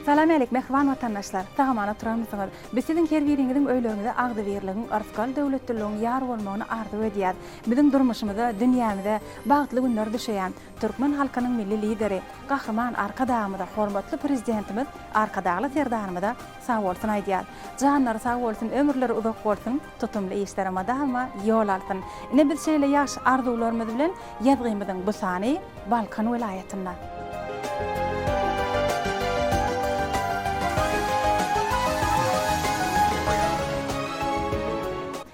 Salam äleýk mähriban watandaşlar! Sagamana turarmysyňyz? Biz siziň her biriňiziň öýleriňize agzybirligiň, yrsgal döwletliligiň ýar bolmagyny arzuw edýäs. Biziň durmuşymyza, dünýämize bagtly günler düşeýär. Türkmen halkynyň Milli Lideri, Gahryman Arkadagymyza, hormatly Prezidentimiz Arkadagly Serdarymyza sag bolsun aýdýas. Janlary sag bolsun, ömürleri uzak bolsun! Tutumly işlere mydama ýol alsyn! Ine biz şeýle ýagşy arzuwlarymyz bilen ýazgymyzyň bu sany Balkan welaýatynda.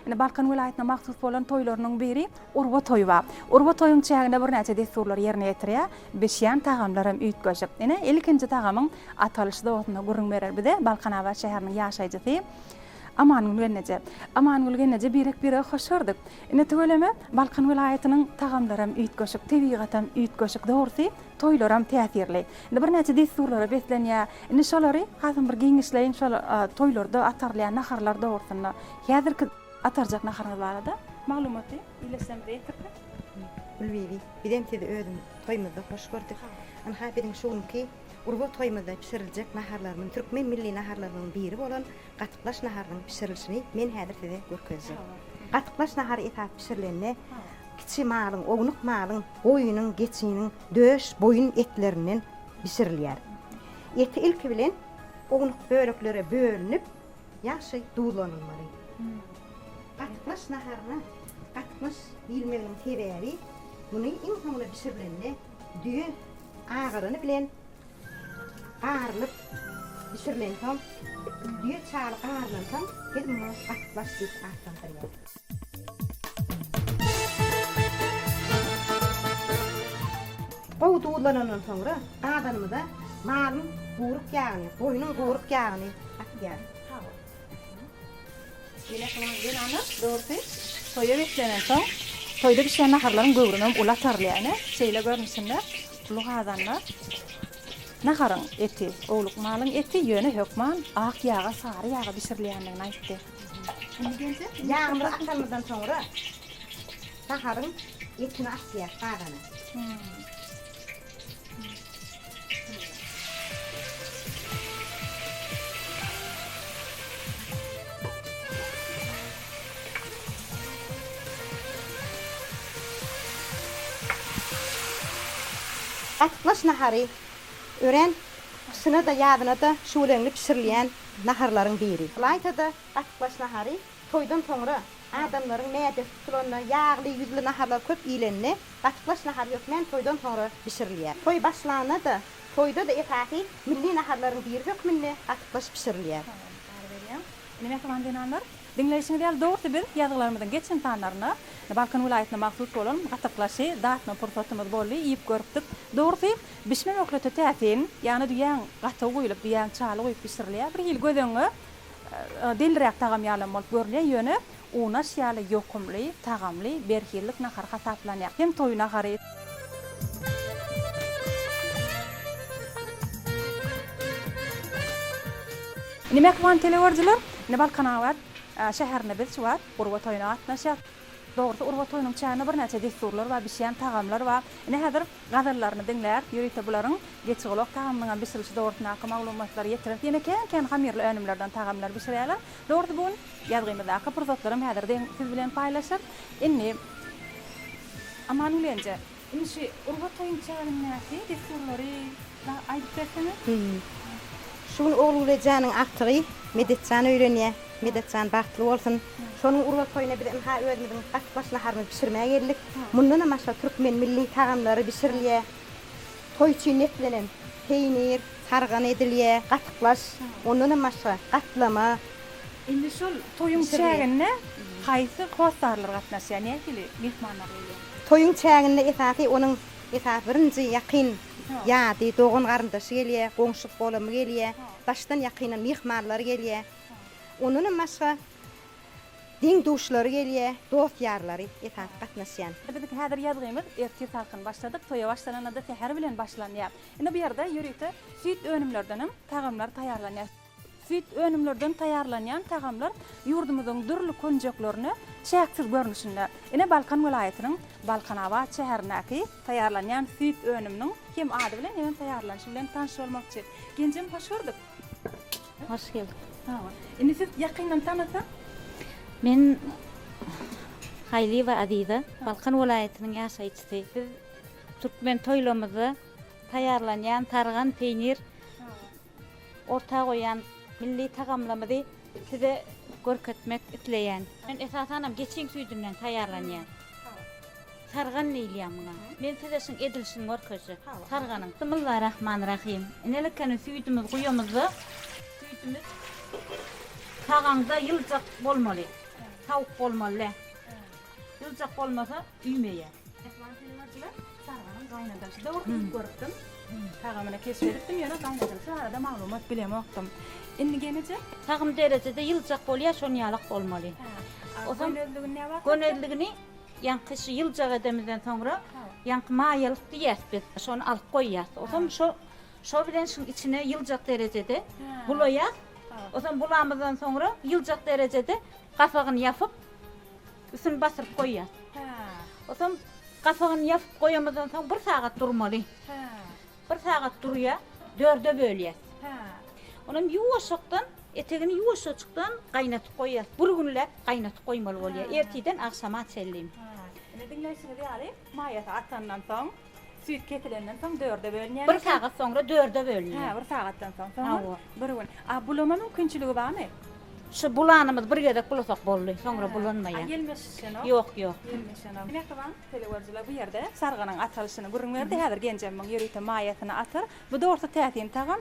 Ine Balkan welaýatyna mahsus bolan toýlarynyň biri Urba toýy ba. Urba toýuň çäginde birnäçe dessurlary ýerine ýetirýär. Bişýän tagamlar hem üýtgeşik. Ine ilkinji tagamyň atalyşy dogusynda gürrüň berer bize Balkanabat şäheriniň ýaşaýjysy. Amangül gelneje. Amangül gelneje birek-birege hoş gördük. Ine tüweleme, Balkan welaýatynyň tagamlaram üýtgeşik, tebigatam üýtgeşik, dogrusy, toýlaram täsirli. Indi birnäçe dessurlara beslenýär. Indi şolary hasam bir giňişleýin şol toýlarda atarylýan naharlar dogrusynda. Häzirki atarjak naharyňyz barada maglumaty iýleşsem diýipdik. Gülbibi, bizem sizi özümiz toýumyzda hoş gördük. Ynha biziň şu günki Urba toýumyzda bişiriljek naharlarymyz türkmen milli naharlarymyzyň biri bolan Gatyklaş naharynyň bişirilişini men häzir size görkezjek. Gatyklaş nahary esasy bişirilende kiçi malyň, ownuk malyň, goýunyň, geçiniň döş, boýun etlerinden bişirilýär. Eti ilki bilen ownuk böleklere bölünip, ýagşy duzlanylmaly. Gatyklaş naharyna gatyklaş diýilmeginiň sebäbi, muny iň soňuna bişirilende düýe agyrany bilen Garylyp bişirilensoň, düýe çaly garylansoň, biz muňa gatbaş diýip atlandyrýarys. Gowy duzlanandan soňra, gazanymyza malyň guryk ýagyny, goýnuň guryk ýagyny atýarys. Ýene şonuň zenanlar dogrusy toýa beslenensoň, toýda bişýän naharlaryň göwrümi hem uly atarylýar. Ine, şeýle görnüşinde uly gazanda naharyň eti, owluk malyň eti, ýöne hökman ak ýaga, sary ýaga bişirilýändigini aýtdy. Indi Geldi ýagymyzy atanymyzdan soňra naharyň etini atýarys gazana. Gatyklaş nahary, örän gyşyna-da, ýazyna-da şüweleňli bişirilýän naharlaryň biri. Ylaýta-da gatyklaş nahary Toýdan soňra adamlaryň mädesi tutulanda ýagly, ýüzli naharlar köp iýlende, gatyklaş nahary hökmän toýdan soňra bişirilýär. Toý başlanda-da, toýda-da esasy milli naharlaryň biri hökmünde gatyklaş bişirilýär. Sag boluň, habar berýän. Ine, mähriban zenanlar, diňleýşiňiz ýaly, dogrusy biz ýazgylarymyzyň geçen sanlarynda Balkan welaýatyna mahsus bolan gatyklaşy datma pursatymyz boldy, iýip görüpdik. Dogrusy, bişme möhleti täsin, ýagny düýäň gaty guýlup, düýäň çaly guýup bişirilýär. Bir hili göz öňüňe Deliräk tagam ýalam bolup görünýär, ýöne unaş ýaly ýokumly, tagamly, berhizlik nahar hasaplanýar. Hem toý nahary. Indi mähriban teleüerjiler, indi Balkanabat şäherinde biz şu wagt Urba toýuna gatnaşýas. Dogrusy Urba toýunyň çäginde birnäçe dessurlar bar, bişýän tagamlar bar. Indi häzir gazallaryny diňläp, ýörite bularyň geçigulak tagamynyňam bişirilişi dogrusyndaky maglumatlary ýetirer. Ýene kän-kän hamyrly önümlerden tagamlar bişirýärler. Dogrusy bu gün ýazgymyzdaky pursatlaram häzirde siz bilen paýlaşar. Indi. Aman Gülenje. Indi şu urga toýuň çägindäki dessurlary. Dagy aýdyp bersene. Şu gün Oglugülejanyň agtygy Medetjan öýlenýä. Medetjan bagtly bolsun. Şonuň urga toýuna biz ynha özümiziň gaty baş naharymyzy bişirmä geldik. Mundanam başga türkmen milli tagamlary bişirilýä. Toý üçin netlenen peýnir, sargan edilýä, gatyklaş, ondanam başga gatlama. Indi şol toýuň çäginde haýsy hossarlar gatnaşýar, nähili myhmanlar gelýär? Toýuň çäginde esasy onuň esas birinji ýakyn Ýady, dogan-garyndaşy gelýär, goňşy-golamy gelýär, daşdan-ýakyndan myhmanlary gelýär. Ondanam başga deň-duşlary gelýär, dost-ýarlary esasy gatnaşýan. Biziňki häzir ýazgymyz ertir salkyn başladyk, toýa başlananda-da säher bilen başlanýar. Indi bu ýerde ýörite süýt önümleridenem tagamlar taýýarlanýar. Süýt önümlerden taýýarlanýan tagamlar ýurdumyzyň dürli künjeklerine çäksiz görnüşinde, ine Balkan welaýatynyň Balkanabat şäherindäki taýýarlanýan süýt önüminiň hem ady bilen hem taýýarlanyşy bilen tanyş bolmakçy. Genjem hoş gördük. Hoş geldik. Sag bol. Indi siz ýakyndan tanasak. Men Haýlyýewa Aziza, Balkan welaýatynyň ýaşaýjysy. Biz türkmen toýlamyzda taýýarlanýan sargan peýnir. Orta goýan milli tagamlamyzy size görkezmek isleýän. Men esasanam geçiň süýdünden taýýarlanýar. Sargan diýilýär muňa. Men size şuň edilişini görkezjek. Sarganyň. Bismillah Rahman Rahim. Inelekene süýdümiz guýamyzda süýdümiz sagaňda ýyljak bolmaly. Sawuk bolmaly dä. Ýyljak bolmasa üýmeýär. Çaganyň gaýynadasy dogry iýip görüpdim. Tagamyny keşp edipdim, ýöne gaýynadasy barada maglumat bilemokdym. Indi gemijek? Tagym derejede ýyljak bolýar, şonuň ýalak bolmaly. Gönezligini näme wagt? Gönezligini ýaňky şu ýyljak edemizden soňra ýaňky maýalyk diýýäs biz. Şony alyp goýýas. Onsoň şo şo bilen şuň içine ýyljak derejede bulaýas. Onsoň bulamyzdan soňra ýyljak derejede gapagyny ýapyp, Üstüni basyryp goýýas. Soň gapagyny ýapyp goýamyzdan soň bir sagat durmaly. Bir sagat durýar, dörde bölýäs. Onam ýuwaşjakdan, etegini ýuwaşjajykdan gaýnatyp goýýas. Bir günläp gaýnatyp goýmaly bolýar, ertirden agşama çenli. Indi diňleýşiňiz ýaly, maýasy atandan soň. Süýt kesilenden soň dörde bölünýär. Bir sagat soňra dörde bölünýär. Hä, bir sagatdan soň. Soňam bir gün. A bulama mümkinçiligi barmy? Şu bulanymyz bir gezek bulasak boldy. Soňra bulanmaýar. A ýelmeşişenok? Ýok, ýok. Ýelmeşenok. Mähriban telegörüjiler bu ýerde sarganyň atalyşyny gürrüň berdi. Häzir genjemiň ýörite maýasyny atar. Bu dogrusu täsin tagam.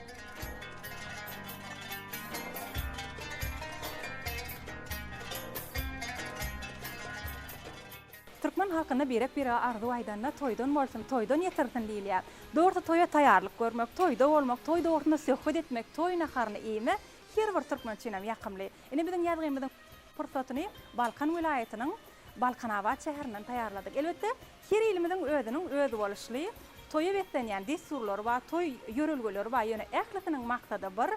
Türkmen halkynda birek-birege arzuw aýdanda toýdan bolsun, toýdan ýetirsin diýilýär. Dogrusy toýa taýýarlyk görmek, toýda bolmak, toý dogrusynda söhbet etmek, toý naharyny iýmek her bir türkmen üçinem ýakymly. Ine biziň ýazgymyzyň pursatyny Balkan welaýatynyň Balkanabat şäherinden taýýarladyk. Elbetde, her ilimiziň özüniň özboluşly toýa beslenýän dessurlary bar, toý ýörelgeleri bar, ýöne ählisiniň maksady bir,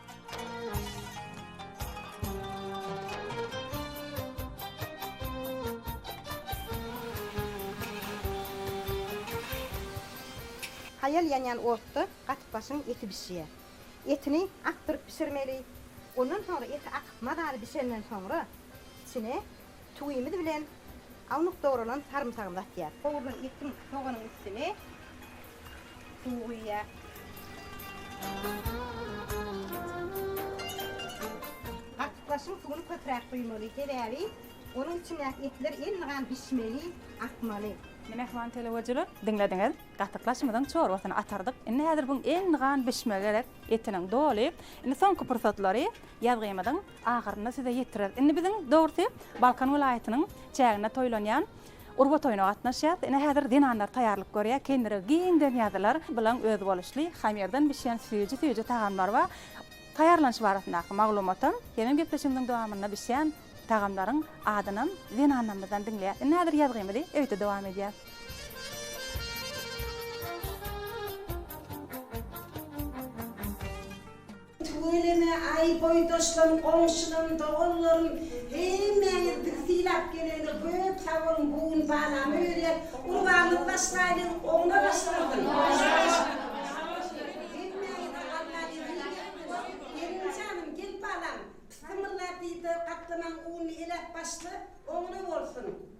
Haýal ýanýan otda gatypbaşyň eti bişýär. Etini akdyryp bişirmeli. Ondan soňra eti akyp mazaly bişenden soňra içine Tüwimiz bilen alnyp dogralan sarymsagymyzy atýas. Gowrulan etiň, soganyň üstüne suw guýýas. Gatyklaşyň suwuny köpräk guýmaly, sebäbi onuň içindäki etler elmygam bişmeli, akmaly. Indi mähriban telewyzyjylar, diňlediňiz. Gatyklaşymyzyň çorbasyny atardyk. Indi häzir buň elmygam bişmegi gerek, etiniň doly. Indi soňky pursatlary ýazgymyzyň Ahyrynda size ýetireris. Indi biziň dogrusy Balkan welaýatynyň çäginde toýlanýan Urba toýuna gatnaşýas. Ine häzir zenanlar taýýarlyk görýär. Kendirek giň dönýärdiler. Bulan özboluşly hamyrdan bişýän süýji-süýji tagamlar bar. Taýýarlanyşy barasyndaky maglumatam hemem gepleşigimiziň dowamynda bişýän tagamlaryň adynam zenanlarymyzdan diňleýäs. Indi häzir ýazgymyzy öýde dowam edýäs. Tüweleme, aý, boýdaşlarym, goňşularym, doganlarym, hemmäňiz bizi sylap gelenize köp sag boluň, bu gün balamy berýäs, gurbanyňyzy başlaýlyň, oňuna başlasyn! Hemmäňize Alla ýeňil bersin! Gelin janym, gel balam, pissymylla diýse, gatlamaň ununy eläp başla, oňuna bolsun!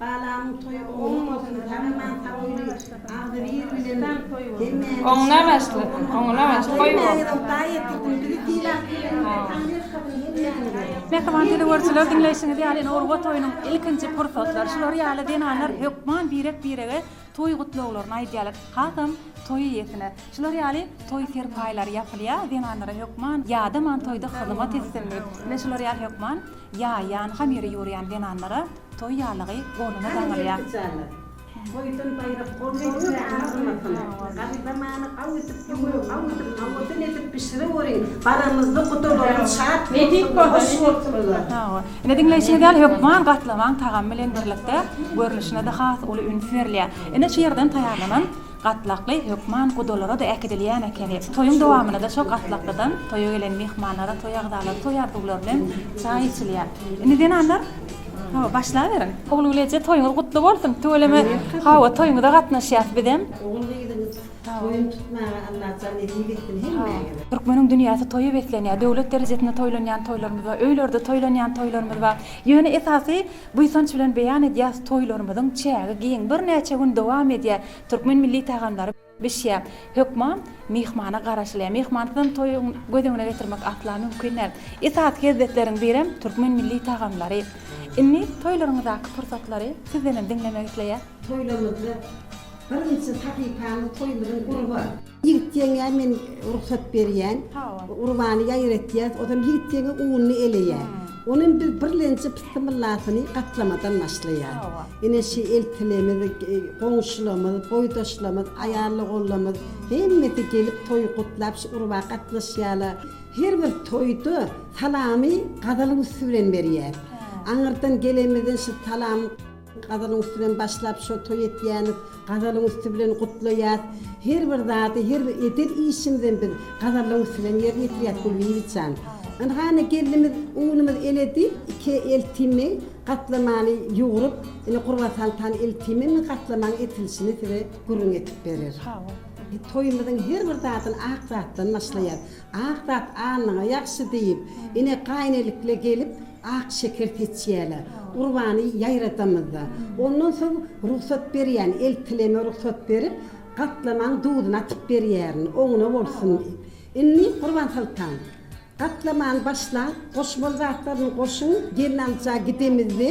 Balamyň toýy oňuna bolsun tagaman sagyly agzybir bilen hemmäňiz Oňuna başlasyn oňuna başlasyn. Hemmäňiz ynta ýetirsin bizi sylag berenlere taň ýalkasyn hemmäňize. Mähriban telegörüjiler diňleýşiňiz ýaly indi Urba toýunyň ilkinji pursatlary şular ýaly zenanlar hökman birek birege toý gutlaglaryny aýdýarlar hasam toý eýesine şular ýaly toý serpaýlary ýapylýar zenanlara hökman ýadaman toýda hyzymat etsin diýip ine şular ýaly hökman ýaýýan hamyry ýurýan zenanlara Toý ýalygy goluna daňylýar. Toýdan baýrak bolmaýdy kärine gymmatsyň. Garyba many aw edip, ýüňe aw edip, nawadyn edip bişireweriň. Baramyzda gudalarymyz şat bolsun, hoş bolsunlar. Hawa. Ine diňleýşiňiz ýaly hökman gatlamaň tagamy bilen birlikde görnüşine-de has uly üns berilýär. Ine şu ýerden taýýarlanan Gatlakly hökman gudalara-da äkidilýän ekeni. Toýuň dowamynda-da şo gatlaklydan toýa gelen myhmanlara, toý agzalary toý arzuwlary bilen çaý içilýär. Indi zenanlar, hawa, başlaberiň. Ogulgyz eje, toýuňyz gutly bolsun! Tüweleme, hawa, toýuňyza gatnaşýas bizem. Ogulgyzyň toýuny tutmaga Allah jan nesip etsin hemmäňize. Türkmeniň dünýäsi toýa beslenýär. Döwlet derejesinde toýlanýan toýlarymyz bar, öýlerde toýlanýan toýlarymyz bar. Ýöne esasy Buýsanç bilen beýan edýäs toýlarymyzyň çägi giň birnäçe gün dowam edýä türkmen milli tagamlary bişýä hökman myhmana garaşylýa myhmansyzam toýy göz öňüne getirmek asla mümkin däl esasy hezzetleriň birem türkmen milli tagamlary indi toýlaryňyzdaky pursatlary sizdenem diňlemek isleýäs. Toýlarymyzda birnçe sahypany toýumyzyň urba. Ýigit ýeňňä men rugsat berýän. Urbany ýaýyr etýäs. Ozal ýigit ýeňňe ununy eleýär. Onuň biz birlenji pyssymyllasyny gatlamadan başlaýar. Ine şi eltilemiz, goňşulamyz, boýdaşlamyz, aýallogonlamyz hemmesi gelip toýy gutlap şi urba gatnaşýarlar. Her bir toýda salamy gazalyň üsti bilen berýäs. Aňyrdan gelenmizden şi salam. Gazalyň üsti bilen başlap şo toý etýämiz. Gazalyň üsti bilen gutlaýas. Her bir zady, her bir eden işimizem biz gazalyň üsti bilen ýerine ýetirýäs Gulbibi jan. Ynha indi gelnimiz unumyz eledi, iki eltimi gatlamany ýugrup, indi gurbasaltan eltimi indi gatlamany etilişini size gürrüň etip berer. Hawa. Toýumyzyň her bir zadyny ak zatdan başlaýas. Ak zat alnyňa ýagşy diýip, ine gaýynelikle gelip, Ak şeker seçýärler. Gurbany ýaýradamyzda, ondan soň rugsat berýän eltileme rugsat berip, gatlamaň duzuny atyp berýärin, oňuna bolsun diýip. Indi, Gurbansoltan, gatlamany başlaň, goşmaly zatlaryny goşuň, gelnalyja gidemizde.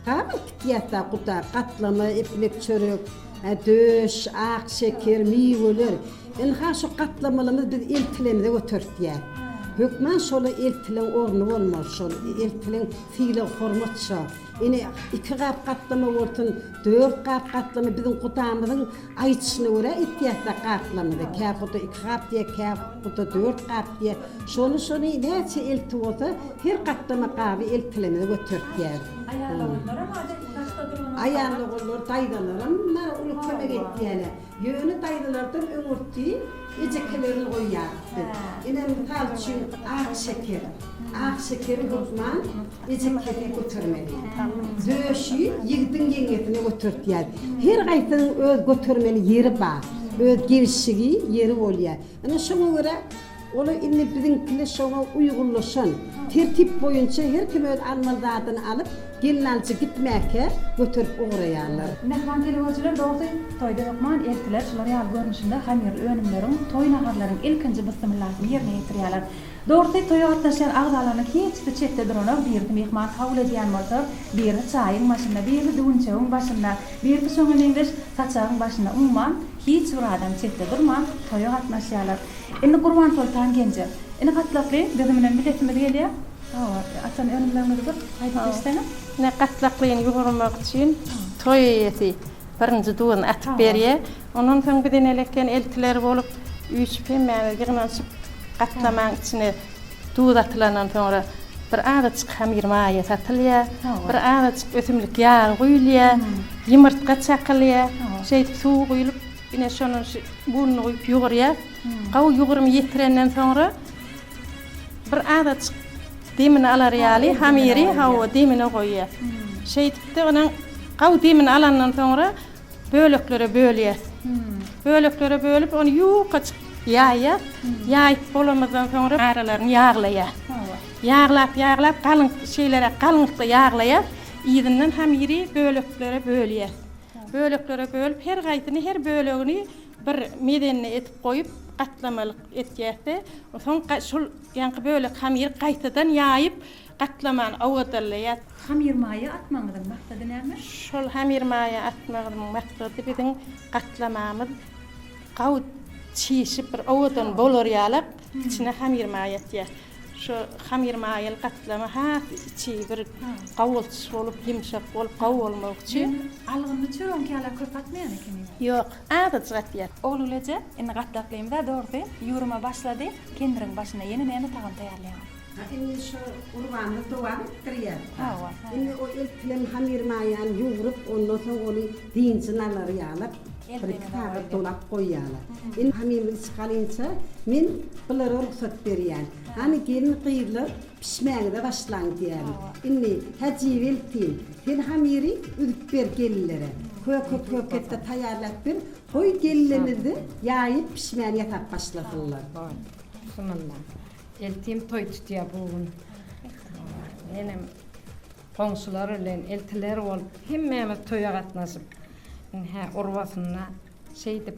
Tabyl tikýärda guda, gatlama, iplik, çörek, döş, ak şeker, miweler. Ynha şu gatlamalymyz biz eltilemize götertýär. Hökman şola eltileň orny bolmaly şol. Eltileň sylag hormat şo. Ine iki gap gatlama bolsun, dört gap gatlama biziň gudamyzyň Aýdyşyna görä, it ýatsa gaplamyzy kähuda iki gap diýýär, kähuda dört gap diýýär. Şony-şony näçe elti bolsa, her gaplama gaby eltilemede götertýär. Aýal-ogullaram adaty daşda duranyna garaman. Aýal-ogullar, daýzalaram munlara uly kömek edýärler. Ýöne daýzalardan öňürti ejekelerini goýýardy. Ine, mysal üçin, Akşeker. Akşekeri hökman. Ejekleriňe götermeli. Döşi ýigdiň ýeňňesine götertýär. Her gaýsynyň öz götermeli ýeri bar. Öz gelşigi ýeri bolýar. Ine şoňa görä olar indi biziňkiler şoňa uýgunlaşan. Tertip boýunça her kim öz almaly zadyny alyp, gelinalyja gitmäkä göterip ugraýarlar. Myhman telewirjiler dogrusy toýda hökman eltiler şular ýaly görnüşinde hamyrly önümleriň, toý naharlaryň ilkinji bysymyllasyny ýerine ýetirýärler. Dogrusy, toýa gatnaşýan agzalarynyň hiçsi çetde duranok, birisi myhman kabul edýän bolsa, birisi çaýyň başynda, birisi düwünçegiň başynda, birisi şoňa meňzeş saçagyň başynda, umuman, hiç bir adam çetde durman, toýa gatnaşýarlar. Indi Gurbansoltan genje, Ini gatlakly, biziň bilen biletimiz gelýär. Hawa, açan önümleriňizi bir aýdyp geçseňiz. Ine, gatlaklyny ýugurmak üçin toý eýesi Birinji duzuny atyp berýär. Ondan soň biz eneli eken eltiler bolup, üýşüp hemmämiz ýygnanyşyp gatlamaň içine duz atylandan soňra bir azajyk hamyr maýa satylýar, bir azajyk ösümlik ýagy guýulýar, ýumurtga çakylýar. Şeýdip suwy guýlup, ine şonuň şu bunyny guýup ýugurýar. Gowy ýugurymy ýetirenden soňra. Bir azajyk demini alar ýaly, hamyry, hawa, demine goýýas. Şeýdip-de, onuň gawy demini alandan soňra böleklere bölýäs. Böleklere bölüp, ony ýukaçyk ýaýýas. Ýaýyp bolamyzdan soňra aralaryny ýaglaýas. Ýaglap, ýaglap, galyň, şeýleräk galyňlykda ýaglaýas. Yzyndan hamyry böleklere bölýäs. Böleklere bölüp, her haýsyny, her bölegini Bir mezenini edip goýup, gatlamalyk etýäs-de, onsoň şol ýaňky bölek hamyry gaýtadan ýaýyp, gatlamany owadalaýas. Hamyr maýa atmagyňyzyň maksady näme? Şol hamyr maýa atmagymyň maksady biziň gatlamamyz gawy çişip, bir owadan bolar ýaly içine hamyr maýa atýas. Şo hamyr maýaly gatlama has içi bir gawaltyş bolup, ýumşak bolup, gawy bolmagy üçin. Algynly çöregiňki ýaly köp atmaýan ekeniňiz. Ýok, Azajyk et ýer. Ogluleje, indi gatlaklymyz-a dogrusu, ýuruma başlady, kendiriň başynda ýene näme tagam taýýarlaýaňyz? Ha, indi şo gurbamyz dowam etdirýär. Hawa, hawa. Indi o eltinen hamyrmaýany ýugrup, ondan soň ony dynjyny alar ýaly, bir-iki sagat dolap goýýarlar. Indi hamyrymyzy çykalyňça, men bulara rugsat berýän. Hany, gelin-gyzlar, Pişmäge-de başlaň diýärin. Indi, Hajybeltin, sen hamyry üzüp ber gelinlere. Köke-köke-de taýýarlap ber, goý gelinlerimiz-de ýaýyp pişmäni ýasap başlasynlar. Goý, şundan-da. Eltim toý tutýar bu gün. Menem goňşular bilen eltiler bolup, hemmämiz toýa gatnaşyp, ine-hä urbasyna şeýdip.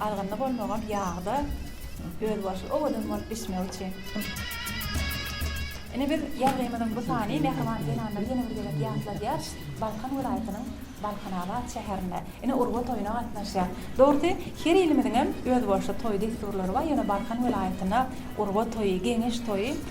Galgynly bolmagam ýagda özboluşly owadan bolup bişmegi üçin. Ine biz ýazgymyzyň bu sany mähriban zenanlary ýene bir gezek ýatladýar. Balkan welaýatynyň Balkanabat şäherinde ine urgy toýuna gatnaşýar. Dogrusy her ilimiziňem özboluşly toý dessurlary bar ýöne Balkan welaýatynda urgy toýy, geňeş toýy,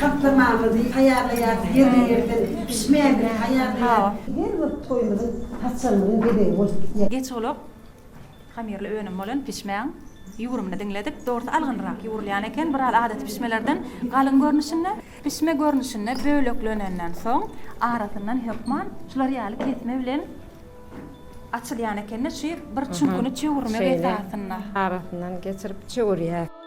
Taslamaňyzy taýýarlaýarys, ýerli-ýerden bişmänini taýýarlaýarys. Her bir toýumyzyň haçanlygyň bezegi bolup gitýär. Geç ulak hamirli önüm bolan pişmäň ýugrumyny diňledik. Dogrusy algynrak ýugrulýan eken, biraz adaty pişmelerden galyň görnüşinde. Pişme görnüşinde böleklenenden soň, arasyndan hökman şular ýaly kesme bilen açylýan eken-de, şu bir çüňküni çöwürmek esasynda. Arasyndan geçirip çöwürýäris.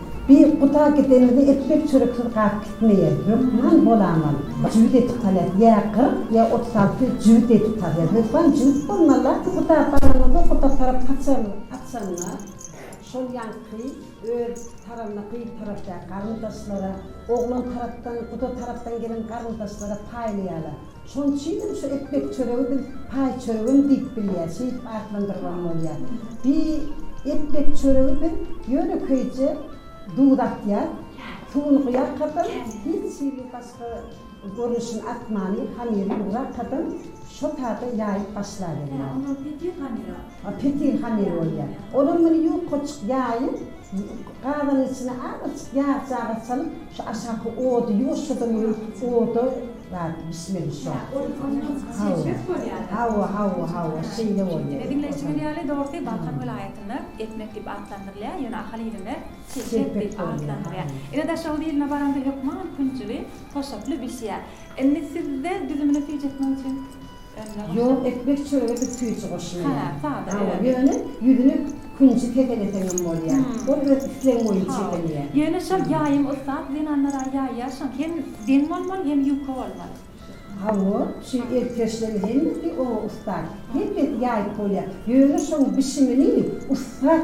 Bir guda gideniňde ekmek çöreksiz galyp gitmeýä. Hökman bolaman jübüt edip salýas. Ýa kyrk, ýa otuz alty jübüt edip salýas. Hökman jübüt bolmaly la bir guda baraňyzda guda tarap haçanda şol ýaňky öz taranyna gyz tarap däl garyndaşlara, oglan tarapdan guda tarapdan gelen garyndaşlara paýlaýalar. Şonuň üçinem şu epbek çöregi biz paý çöregem diýip bilýäs, şeýdip atlandyrybam bolýar. Bi epbek çöregi biz ýönekeýje duz atýas, suwuny guýarkasam, hiç hili başga görnüşini atmany, hamyry ýugrakasam, şo sada ýaýyp başlaberýär. Ýa onam petir hamyry atyp. A petir hamyry bolýar. Onam muny ýukaçyk ýaýyp, gazanyň içine azajyk ýag-çaga salyp, şu aşaky ody ýuwaşjadam öýüp, oda, Zat bismil şo. Hä ol ondan çeşmesi bolýada. Hawa hawa hawa şeýle bolýa. Ine diňleýşi Otan. bilýärli dogrusy Balkan welaýatynda Etmek diýip atlandyrylýar ýöne ahal ilinde Çelpek Çelpek diýip bolýar, atlandyrýar. haýyr. Ine Daşoguz iline baranda hökman künjügi toşaply bişýär. Indi sizde düzümini süýjetmek üçin. Ýok ekmek çörege biz süýji goşmaýas. Hawa ýöne ýüzüne künji kepeleseňem bolýa. Ol öz islegiň boýunça edilýä. Ýöne şol ýaýyň ussat zenanlara ýaýýaşyň hem deň bolmaly hem ýuka bolmaly. Hawa şu elkeşleriň hemmesi oňa ussat. Hemmesi ýaýyp bolýa. Ýöne şoň bişimini ussat.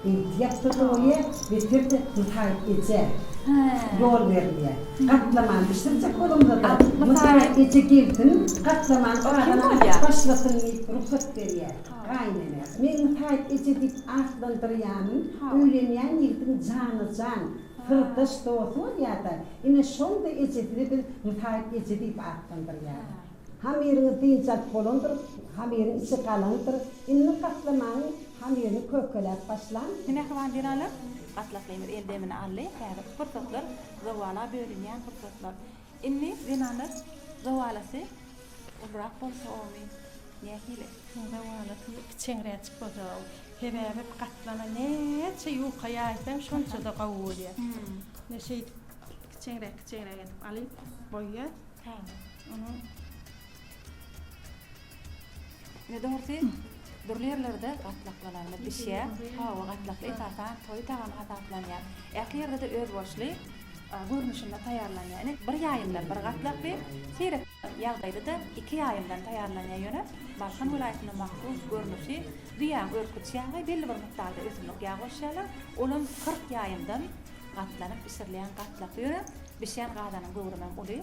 Eýdýäp durdy oýe, beter-de Nusaý eje ýol berilýär. Gatlamany bişirjek bolamyzada Nusaý eje gelsin, gatlamany gaban asyp başlasyn diýip rugsat berýär. Gaýynene, Men Nusaý eje diýip atlandyrýanym, öýlenýän ýigdiň jana-jan, syrdaş, dosty bolýar-da, ine, şonda ejesini biz Nusaý eje diýip atlandyrýarys. Hamyryňyz dynç alyp bolandyr, hamyryň içi galyňdyr. Indi gatlamanyň hamyryny kökeläp başlaň. Mähriban jenalar, gatlaklymyz el demini aldy, häzirki pursatlar zowala bölünýän pursatlar. Indi zenanlar zowalasy ulurak bolsa omy, nähili? Zowalasy kiçeňräçik bolsa omy. Sebäbi gatlama näçe ýuka ýaýsaň şonça-da gowy bolýar. Indi şeýdip kiçeňräk-kiçeňräk edip alyp goýýas. Tamam. Ony ne dogrusy dürli ýerlerde gatlaklalarda bişýär. Hawa, gatlakly esasan toý tagamy hasaplanýar. Ähli ýerde-de özboluşly görnüşinde taýýarlanýar. Ine, bir ýaýymdan bir gatlakly, seýrek ýagdaýda-da iki ýaýymdan taýýarlanýar. Ýöne Balkan welaýatynda mahsus görnüşi düýäň örküç ýagy, belli bir mukdarda ösümlik ýagy goşýarlar. Ol hem kyrk ýaýymdan gatlanyp bişirilýän gatlakly. Ýöne bişýän gazanyň göwrümem uly.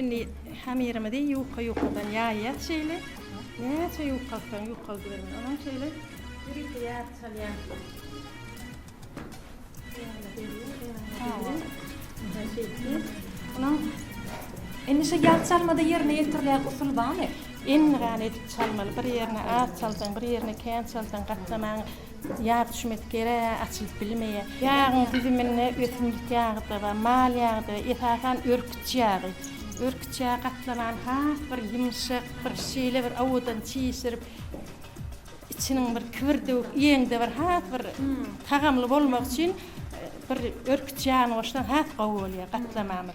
Indi hamirimizi ýuka-ýukadan ýaýýas şeýle. Näçe ýukaltsaň ýukaldyber muny. Oňa şeýle ýörite ýaryp salýan. Onuň indi şu ýag çalmada ýerine ýetirilýän usul barmy? Endigan edip çalmaly. Bir ýerine az çalsaň, bir ýerine kän çalsaň gatlamaň Ýag düşmesi gerek, açylyp bilmeýär. Ýagyň düzüminde ösümlik ýagy-da bar, mal ýagy-da, esasan örküç ýagy. Örküç ýagy gatlanan has bir ýumşak, bir şeýle bir owadan çişirip, içiniň bir kibirdewük iýeňde bir has bir tagamly bolmagy üçin bir örküç ýagyny goşsaň has gowy bolýar gatlamamyz.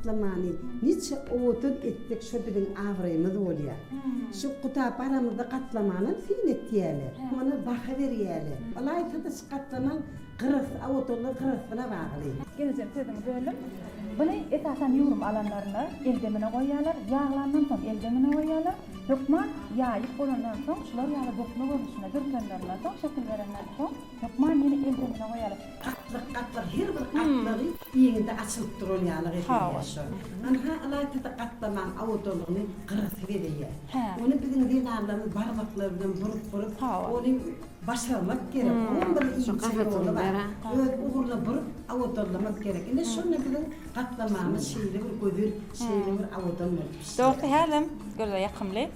Gatlamany niçe owadan etsek şo biziň abraýymyz bolýar. Şu guda baramyzda gatlamanam syn etýäle. Muny baha berýäle. Ylaýta-da şu gatlamaň gyrasy awadanlygy gyrasyna bagly. Gelejem sözüňi böldüm. Buny esasan ýurum alanlarynda el demine goýýalar. Ýaglandan soň el demine goýýalar. Hökman ýaýyp bolandan soň şular ýaly bokma görnüşinde dürtenlerinden soň şekil berenden soň. Hökman ýene eldemine goýalyň. Gatlyk gatlyk her bir gatlagy iňňidi açylyp duran ýalyk edeýär şo. Ynha ylaýta-da gatlamaň awodalygyny gyrasy geleýär. Ony biziň zenanlarymyz barmaklary bilen burup burup ony başarmak gerek. Oňam bir inçe ýoly bar. Öz ugruna burup awodallamak gerek. Ine şonda biziň gatlamamyz şeýle bir gözel şeýle bir awodan bolup pişýär. Dogrusu häzem göze ýakymly.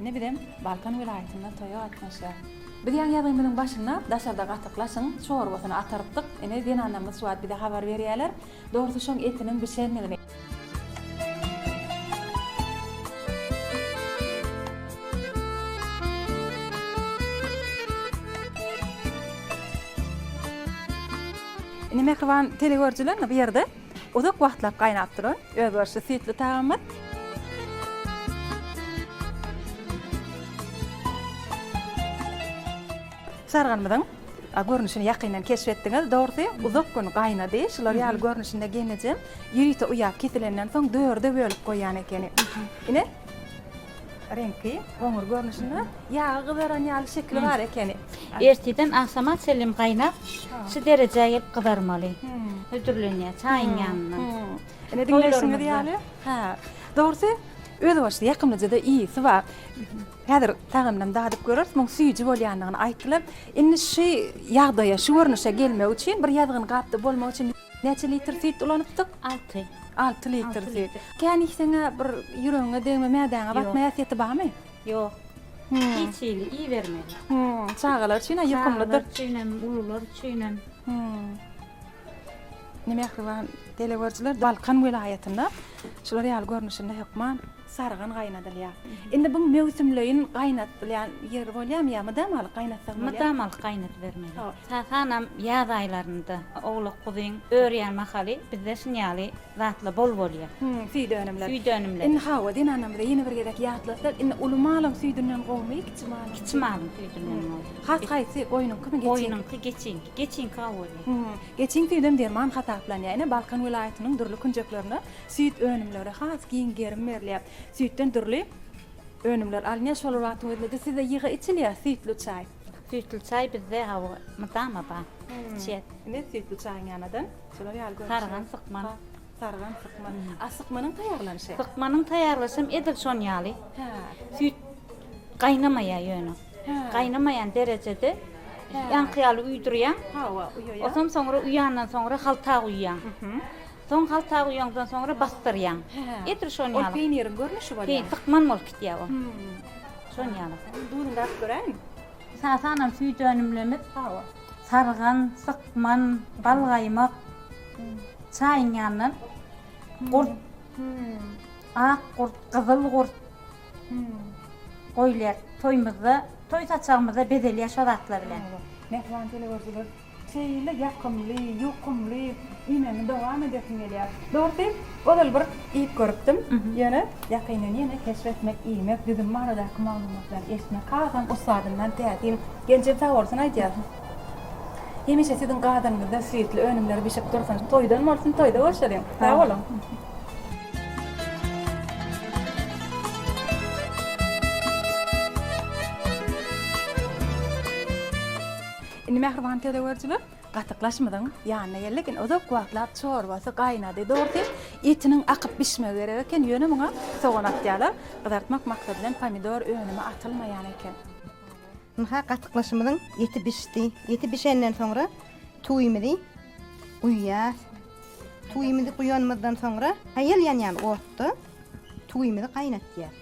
Ine bizem Balkan welaýatynda toýa gatnaşýas. Biz ýaňy ýazymyzyň başynda daşarda gatyk laçyň çorbasyny atarypdyk. Ine zenanlarymyz şu wagt bize habar berýärler. Dogrusy şoň etiniň bişendigini. Ine mähriban telegörüjiler ine bu ýerde Uzak wagtlap gaýnap duran özboluşly süýtli tagamyz. Şalgamymyzyň görnüşini ýakyndan keşp etdiňiz. Dogrusy, uzak gün gaýnady. Şular ýaly görnüşinde genejem ýörite uýap kesilenden soň dörde bölüp goýýan ekeni. Ine, Reňki, goňur görnüşinde, ýagy gyzaran ýaly şekili bar ekeni. Ertiden agşama çenli gaýnap, şu derejä gelip gyzarmaly. Hödürlenýär çaýyň ýanynda. Ine diňleýşiňiz ýaly, hä, dogrusy özbaşly ýakymlyja-da ysy bar. Häzir tagamynam dadyp göreris, muň süýji bolýandygyny aýtdylar. Indi şu ýagdaýa, şu görnüşe gelmegi üçin, bir ýazgyn gapda bolmak üçin. Näçe litr süýt ulanypdyk? Alty. Alty litr süýt. Kän iýseň-ä bir ýüregiňe degme, mädäňe batma häsiýeti barmy? Ýok. Hiç hili iýibermeli. Çagalar üçin-ä ýokumlydyr. Çagalar üçinem, ulular üçinem. Ine, mähriban teleýüzerçiler, Balkan welaýatynda şular ýaly görnüşinde hökman Sarygan gaýnadylýar. Indi bu möwsümleýin gaýnadylýan ýeri bolýarmy ýa mydamalyk gaýnatsaň bolýarmy? Mydamalyk gaýnadybermeli. Sasanam ýaz aýlarynda owlak guzyň örýän mahaly bizde şun ýaly zatlar bol bolýar. Hü, süýt önümleri. Süýt önümleri. Indi hawa, zenanlarymyza ýene bir gezek ýatlatsak, indi uly malyň süýdünden gowumy, kiçi malyň? Kiçi malyň süýdünden gowy. Has haýsy, goýnuňkymy, geçiňki? Goýnuňky, geçiňki. Geçiňki gowy bolýar. Geçiň süýdem derman hasaplanýar. Ine, Balkan welaýatynyň dürli künjeklerinde Süýt önümleri has giň gerim berilýär. Süýtden dürli önümler alynýar. Şolar wagtyň özünde-de sizde ýygy içilýär süýtli çaý. Süýtli çaý bizde hawa mydama bar. Içýäs. Indi süýtli çaýyň ýanadan şular ýaly görnüşler. Sargan, sykman. Sargan, sykman. A sykmanyň taýýarlanyşy? Sykmanyň taýýarlanyşy hem edil şon ýaly. Hä. Süýt gaýnamaýar ýöne. Hä. Gaýnamaýan derejede ýaňky ýaly uýdurýaň. Hawa, uýaýaň. Onsoň soňra uýandan soňra halta guýýaň. Soň halta guýaňdan soňra basdyrýaň. Edil şon ýaly. Ol peýniriň görnüşi bolýar. Peý, tykman bolup gitýär ol. Şon ýaly. Duzuny dakyp göräýiň. Esasanam süýt önümlerimiz hawa, sargan, sykman, balgaýmak, çaýyň ýanyndan gurt, ak gurt, gyzyl gurt goýulýar. Toýumyzda, toý saçagymyzda bezelýär şo zatlar bilen. Mähriban telewürdiler. Şeýle ýakymly, ýokumly iýmegimi dowam edesim gelýär. Dogrusy, ozal bir iýip görüpdim, ýöne ýakyndan ýene keşp etmek, iýmek, düzüm baradaky maglumatlary eşitmek hasam ussadymdan täsin. Genjem sag bolsun aýdýar, Hemişe siziň gadanyňyzda süýtli önümler bişip dursun. Toýdan bolsun, toýda görşeliň. Sag boluň! Indi mähriban tölegörjiler gatyklaşmyzyň ýanyna geldik. Indi uzak wagtlap çorbasy gaýnady. Dogrusy, etiniň akyp bişmegi gerek eken, ýöne muňa sogan atýarlar. Gyzartmak maksady bilen pomidor önümi atylmaýan eken. Ynha, gatyklaşymyzyň eti bişdi. Eti bişenden soňra tuýumyzy guýýas. Tuýumyzy guýanymyzdan soňra haýal ýanýan otda tuýumyzy gaýnatýas.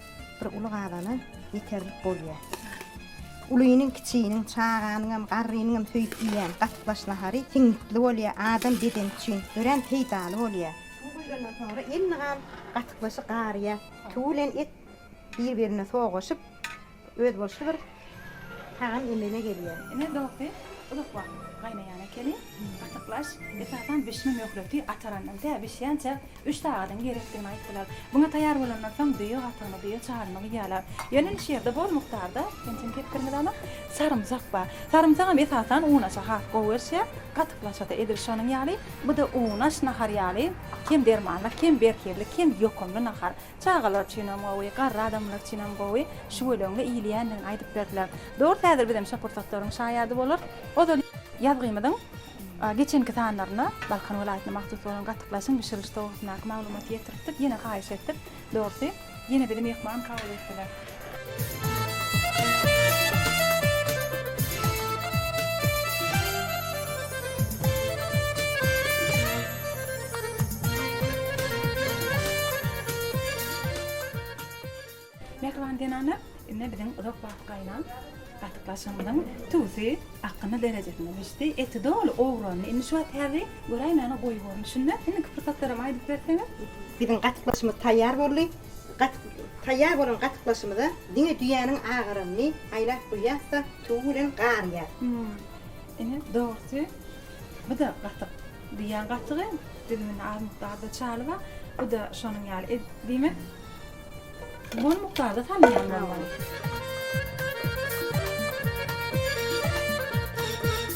Bir uly gabana ýeterlik bolýar. Ulynyň, kiçiniň, çaganyňam, garrynyňam söýüp iýýän gatyklaç nahary siňňitli bolýar, adam bedeni üçin örän peýdaly bolýar. Suw guýlandan soňra elli gal gatyklaçy garyýar. Suw bilen et bir-birine sogaşyp, özboluşly bir Tagan emele gelýär. Ine dogdy, uzak wagt gaýnaýan ekeni. Gatyklaş, esasan bişme möhleti atarandan tä bişýänçä üç sagadyň gerekdigini aýtdylar. Muňa taýýar bolandan soň düýe gatygyny, düýe çaryny guýýarlar. Ýöne indi şu ýerde bol mukdarda, ençeme hektarymyz bar, sarymsak bar. Sarymsagam esasan unaşa has gowy gelişýär. Gatyklaşa-da edil şonuň ýaly. Bu-da unaş nahar ýaly kem dermanlyk, kem berhizlik, kem ýokumly nahar. Çagalar üçinem gowy, garry adamlar üçinem gowy şüweleňli iýilýändigini aýdyp berdiler. Dors häzir bizem şo pursatlaryň şaýady bolarys. Ozal ýazgymyzyň geçenki sanlarynda Balkan welaýatyna mahsus bolan gatyklaşyň bişiriliş togursyndaky maglumaty ýetiripdik, ýene haýyş etdik. Dorsy ýene bizi myhman kabul etdiler. Mähriban zenanlar, indi biziň uzak wagt gaýlan gatyklaşygymyzyň tüwüsi akgyny derejesine düşdi. Eti doly owrandy. Indi şu wagt häzi göräýmäne goýy görnüşinde. Indiki pursatlaram aýdyp berseňiz. Biziň gatyklaşygymyz taýýar boldy. Gatyk taýýar bolan gatyklaşymyza diňe düýäniň agaranyny aýlap guýýas-da, suwy bilen garýas. Ine, dogrusy, bu-da gatyk. Düýäň gatygy, düzüminde az mukdarda çaly bar. Bu-da şonuň ýaly. E, diýmek, bol mukdarda salynýan bolmaly.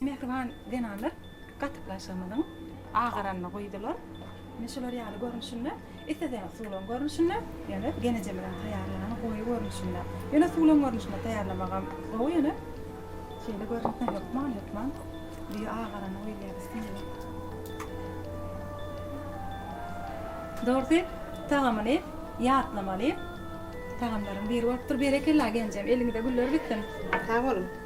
Mähriban zenanlar gatyk laşygymyzyň agaranyny guýdular. Ine şular ýaly görnüşinde. Isleseniz suwlaň görnüşinde, ýöne genije bilen taýýarlaň goýy görnüşinde. Ýöne suwlaň görnüşinde taýýarlamagam gowy ýöne şeýle görnüşinde hökman hökman düýe agarany guýulýar üstüne. Dogrusy tagamyny ýatlamaly tagamlaryň biri bolupdyr. Berekella genjem eliňize güller bitsin. Sag boluň.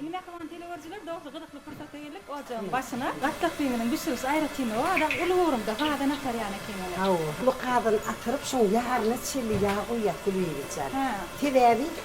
Indi mähriban teleüerjiler dogry gyzykly pursatda geldik ojagyň başyna. Gatlak düýbüniň bişirişi aýratyn o adam uly ugrumda gazan atarýan eken ony. Hawa. Uly gazan atyryp şoň ýaryna çenli ýag guýýas Gülbibijan. Sebäbi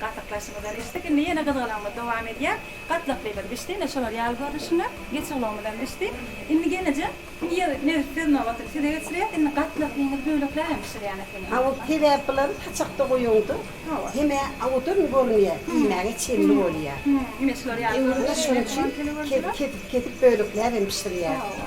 Gatyklaşymyzdan içdik, indi ýene gyzgalaňymyz dowam edýär. Gatlaklymyz bişdi, ine şolar ýaly görnüşinde. Geçiglowumyzam bişdi. Indi gelneje ýer nebit söz nobatyny size geçirýäs. Indi gatlaklyňyzy böleklänem bişirýän ekeniň. Hawa, sebäp bular saçakda goýuňda hemä awudan görünýär, iýmäge çenli bolýar. Ine şular ýaly görnüşinde. Şonuň üçin kesip-kesip bölekläbem bişirýäs. Hawa.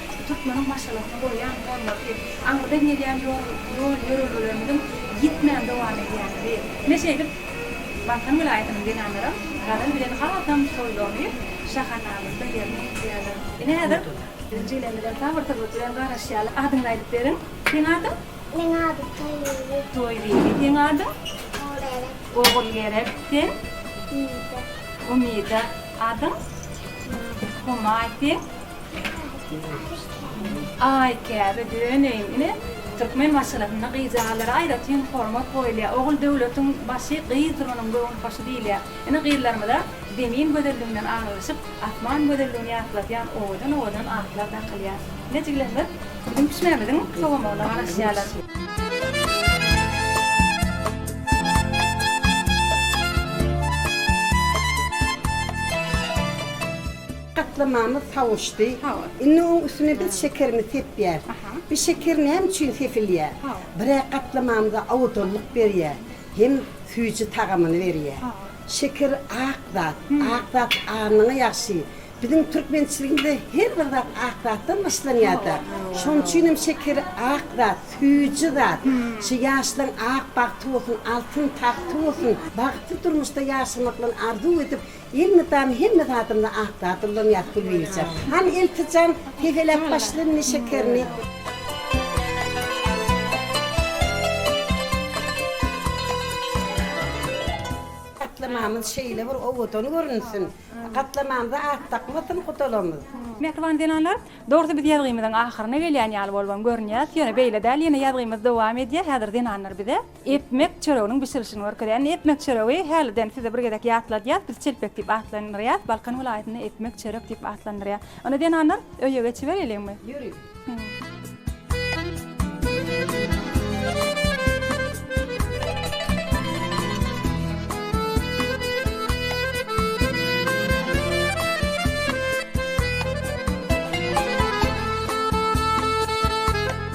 Şu türkmeniň maşgalasyna goýýan hormaty, aňyrdan gelýän ýol-ýörelgelerimiziň ýitmän dowam edýänligi. Ine şeýdip, Balkan welaýatynyň zenanlaram Gazal bilen hasam soýlanyp, şahanamyzda ýerine ýetirýärler. Ine häzir biziň Jiglemizem sabyrsyzlyk bilen garaşýarlar. Adyňyzy aýdyp beriň. Seň adyň? Meň adym Toýbibi. Toýbibi. Seň adyň? Ogulgerek. Ogulgerek. Sen? Umida. Umida. Adyň? Humaý. Humaý. Seň? Aý, käbe döneýin. Ine, türkmen maşgalasynda gyzjagazlara aýratyn hormat goýulýar. Ogul döwletiň başy, gyzdyr onuň göwün hoşy diýilýär. Ine, gyzlarymyza Zemin gözelliginden aňrylyşyp, asman gözelligini ýatladýan owadan-owadan atlar dakylýar. Ine, jiglenler biziň pişmämiziň sowamagyna garaşýarlar. Gaplamamyz sawuşdy. Indi oň üstüne biz şekerimizi sepýäs. Bu şeker näme üçin sepilýär? Birä gaplamamyza aodanlyk berýär hem süýji tagamyny berýär. Şeker ak zat. Ak zat anyňa ýagşy. Biziň türkmençiligimizde her bir zat ak zatdan başlanýar-da. Şonuň üçin hem şeker ak zat, süýji zat. Şu ýaşlaň ak bagty bolsun, altyn tagty bolsun. Bagtly durmuşda ýaşamak bilen arzuw edip, Elmydama hemme zadymda ak zat ulanýas Gülbibijan. Hany Elpijan, tegeläp başlynmy şekerini? Gatlamamyz şeýle bir owadan görünsin. Gatlamamyza at dakmasyn gudalamyz. Mähriban zenanlar, dogrusy biz ýazgymyzyň ahyryna gelýän ýaly bolubam görünýäs, ýöne beýle däl, ýene ýazgymyz dowam edýär, häzir zenanlar bize. Epmek çöreginiň bişirilişini görkezýär. Indi epmek çöregi häliden size bir gezek ýatladýas, biz çelpek diýip atlandyrýas, Balkan welaýatynda epmek çörek diýip atlandyrýar. Onda zenanlar öýe geçibereýliňmi? Ýöriň.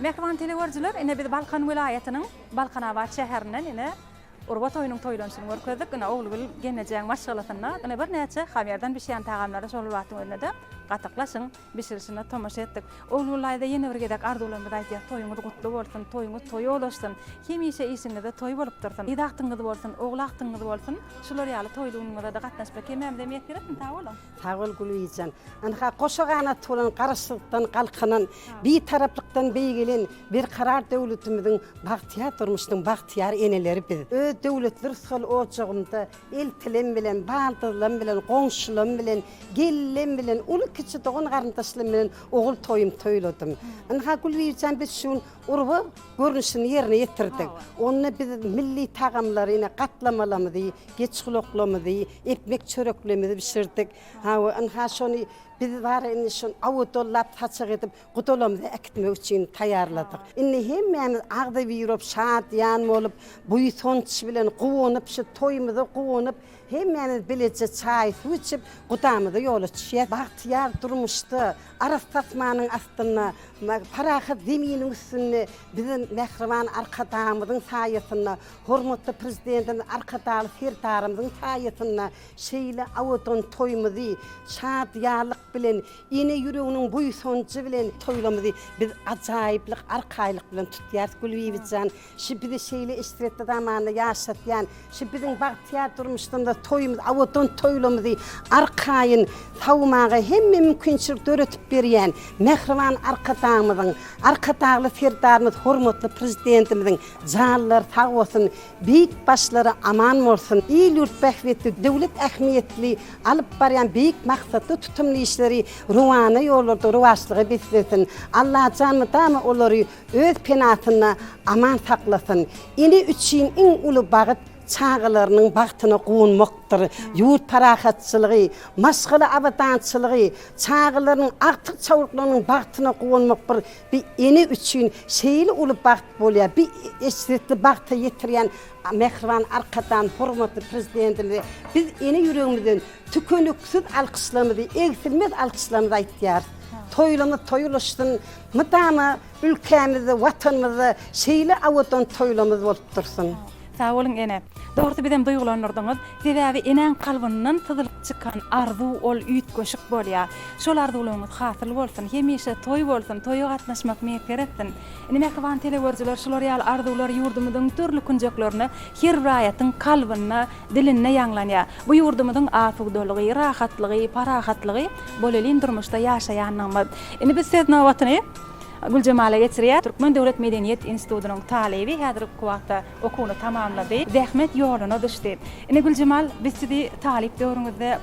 Mähriban telegoerjiler ine biz Balkan welaýatynyň Balkanabat şäherinden ine Urba toýunyň toýlanyşyny görkezdik. Ine Ogulgül gelnejäň maşgalasynda ine birnäçe hamýardan bişýän tagamlary şol bir wagtyň özünde-de gatyklaşyň. bişirişine tomaşa etdik. Ogulgullaýda ýene bir gezek arzuwlarymyzy aýdýas, toýuňyz gutly bolsun, toýuňyz toýa ulaşsyn, hemişe işiňizde toý bolup dursun, gyz agtygyňyz bolsun, ogul agtygyňyz bolsun, şular ýaly toýly günüňizede gatnaşyp bir kemämize miýes beretsin, sag boluň! Sag bol Gülbijan. Ynha, goşa ganaty bolan Garaşsyzlykdan galkynan, Bitaraplykdan beýgelen Berkarar döwletimiziň bagtyýar durmuşynyň bagtyýar eneleri biz. Öz döwletli rysgal ojagymyza Eltilerim bilen, baldyzlarym bilen, goňşularym bilen, gelinem bilen, uly-kiçi dogan-garyndaşlarym bilen ogul toýumy toýladym. Ynha, Gülbibijan, biz şu gün urba görnüşini ýerine ýetirdik. Onda biz milli tagamlary, ine, gatlamalarymyzy, geçgulaklarymyzy, ekmek çöreklerimizi bişirdik. Hawa, ynha, şony biz bara indi şony awodollap, saçak edip, Gutulamyzy äkitmek üçin taýýarladyk. Indi hemmämiz agzybirop, şadyýan bolup, buýsanç bilen guwanyp, şu toýumyza guwanyp, hemmämiz bileje çaý-suw içip, gudamyza ýola çykyas. Bagtyýar durmuşda, arassa asmanyň astynda, parahat zeminiň üstünde biziň mähriban Arkadagymyzyň saýasynda, hormatly Prezidentimiz Arkadagly Serdarymyzyň saýasynda şeýle abadan toýumyzy şadyýanlyk bilen Ene ýüreginiň buýsanjy bilen toýlarymyzy biz ajaýyplyk, arkaýlyk bilen tutýarys, Gülbibit jan. Şu bizi şeýle eşretli zamanda ýaşatýan, şu biziň bagtyýar durmuşlarymyzda toýumyzy, abadan toýlarymyzy arkaýyn sawmaga hemme mümkinçilik döredip berýän mähriban Arkadagymyzyň, Arkadagly Serdarymyz, hormatly Prezidentimiziň janlary sag bolsun, Beýik başlary aman bolsun! Il-ýurt bähbitli, döwlet ähmiýetli alyp barýan beýik maksatly tutumly işleri ruhana ýollarda rowaçlyga beslesin! Allajan mydama olary öz penasynda aman saklasyn! Ene üçin iň uly bagt çagalarynyň bagtyna guwanmakdyr. Ýurt parahatçylygy, maşgala abadançylygy, çagalarynyň, agtyk-çawluklarynyň bagtyna guwanmak bir Bir ene üçin şeýle uly bagt bolýar, bi eşretli bagta ýetirýän mähriban Arkadan, hormatly Prezidentimize biz ene ýüregimizden tükeniksiz alkyşlarymyzy, egsilmez alkyşlarymyzy aýtýarys. Toýlarymyz toý ulaşsyn, mydama ülkämizde, Watanymyzda şeýle awadan toýlarymyz bolup dursun! Sag boluň ene. Dogrusy bizem duýgulandyrdyňyz. Sebäbi enäň kalbyndan syzylyp çykan arzuw ol üýtgeşik bolýar. Şol arzuwlaryňyz hasyl bolsun. Hemişe toý bolsun, toýa gatnaşmak miýesser etsin. Indi mähriban telegörüjiler şular ýaly arzuwlar ýurdumyzyň dürli künjeklerinde her raýatyň kalbynda, dilinde ýaňlanýar. Bu ýurdumyzyň asudalygy, rahatlygy, parahatlygy bolelin durmuşda ýaşaýanlygymyz. Indi biz söz nobatyny. Güljemala geçirýär. Türkmen döwlet medeniýet institutynyň talyby häzirki wagtda okuwyny tamamlady. Zähmet ýoluna düşdi. Ine, Güljemal, biz sizi talyp döwrüňizde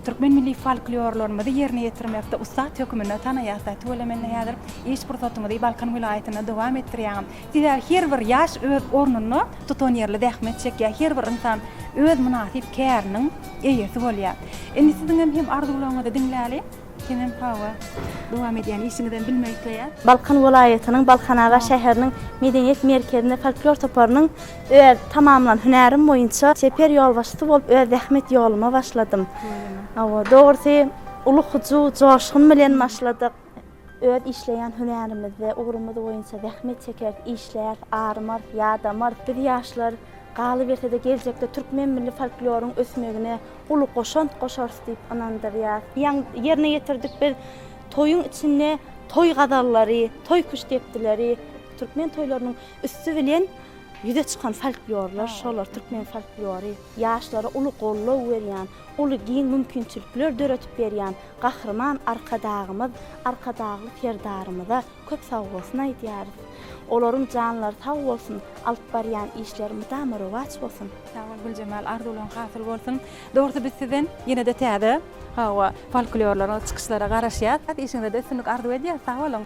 türkmen milli folklorlarymyzy ýerine ýetirmekde ussat höküminde tanaýas-da. Tüweleme-nde häzir iş pursatyňyzy Balkan welaýatynda dowam etdirýäňiz. Sebäbi her bir ýaş öz ornunda tutanýerli zähmet çekýär. Her bir ynsan öz mynasyp käriniň eýesi bolýar. Indi siziňem hem arzuwlaryňyzy diňläli. Kenan Power dowam edýän işiňizem bilmek isleýär. Balkan welaýatynyň Balkanabat şäheriniň Medeniýet merkezinde folklor toparynyň öz tamamlan hünärim boýunça çeper ýolbaşçysy bolup öz zähmet ýoluma başladym. Hawa, dogrusy uly hyjuw, joşgun bilen başladyk. Öz işleýän hünärimizde, ugrumyz boýunça zähmet çekeris, işläris, arymarys, ýadamarys. Biz ýaşlar, galyberse-de geljekde türkmen milli folkloryň ösmegine, uly goşant goşarys diýip ynandyrýar. Ýaň ýerine ýetirdik biz toýuň içinde toý gazallary, toý küştdepdileri, türkmen toýlarynyň üsti bilen ýüze çykan folklorlar şolar, türkmen folklory, ýaşlara uly goldaw berýän, uly giň mümkinçilikler döredip berýän Gahryman Arkadagymyz, Arkadagly Serdarymyza Köp sag bolsun aýdýarys. Olaryň janlary sag bolsun, alyp barýan işleri mydama rowaç bolsun. Sag bol Güljemal arzuwlaň hasyl bolsun. Dogrusy biz sizden ýene-de täze hawa folklorlara çykyşlara garaşýas. Işiňizde üstünlik arzuw edýäs. Sag boluň.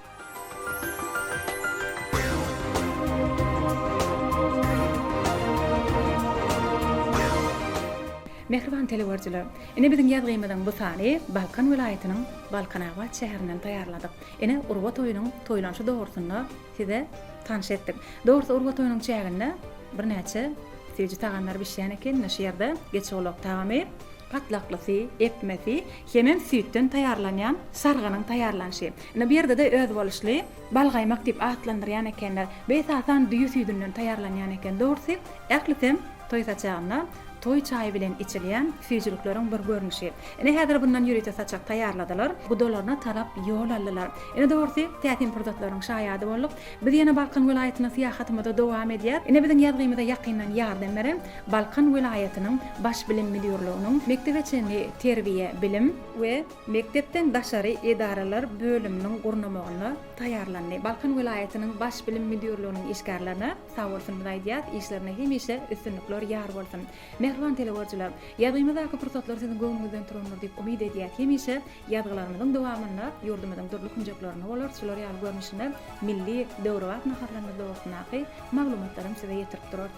Mähriban teleworjylar! Ine biziň ýazgymyzyň bu sany Balkan welaýatynyň Balkanabat şäherinden taýýarladyk. Ine, Urba toýunyň toýlanyşy dogrusynda size tanyş etdik. Dogrusy Urba toýunyň çäginde birnäçe süýji tagamlar bişýän eken. Ine, şu ýerde geçigulak tagamy, patlaklysy, epmesi hemem süýtden taýýarlanýan sargynyň taýýarlanyşy. Ine, bu ýerde-de özboluşly balgaýmak diýip atlandyrýan ekenler. Bu esasan düýe süýdünden taýýarlanýan eken. Dogrusy, ählisem toý saçagynda Toý çaýy bilen içilýän süýjülikleriň bir görnüşi. Ine, häzir bundan ýörite saçak taýýarladylar. Gudalaryna tarap ýol aldylar. Ine, dogrusy, täsin pursatlaryň şaýady bolduk. Biz ýene Balkan welaýatyna syýahatymyzy dowam edýäs. Ine, biziň ýazgymyza ýakyndan ýardam beren Balkan welaýatynyň Baş bilim müdirliginiň Mekdebe çenli terbiýe, bilim, we mekdepden daşary edaralar bölüminiň gurnamagynda taýýarlandy Balkan welaýatynyň Baş bilim müdirliginiň işgärlerine, Sag bolsun mlaýdýas işlerinde hemişe üstünlikler ýar bolsun. Mähriban telegörüjiler, ýazgymyzdaky pursatlar siziň göwnüňizden turandyr diýip umyt edýäs hemişe ýazgylarymyzyň dowamynda ýurdumyzyň dürli künjeklerinde bolar şular ýaly görnüşine milli, döwrebap naharlarymyz dogrusyndaky maglumatlaram size ýetirip durarys.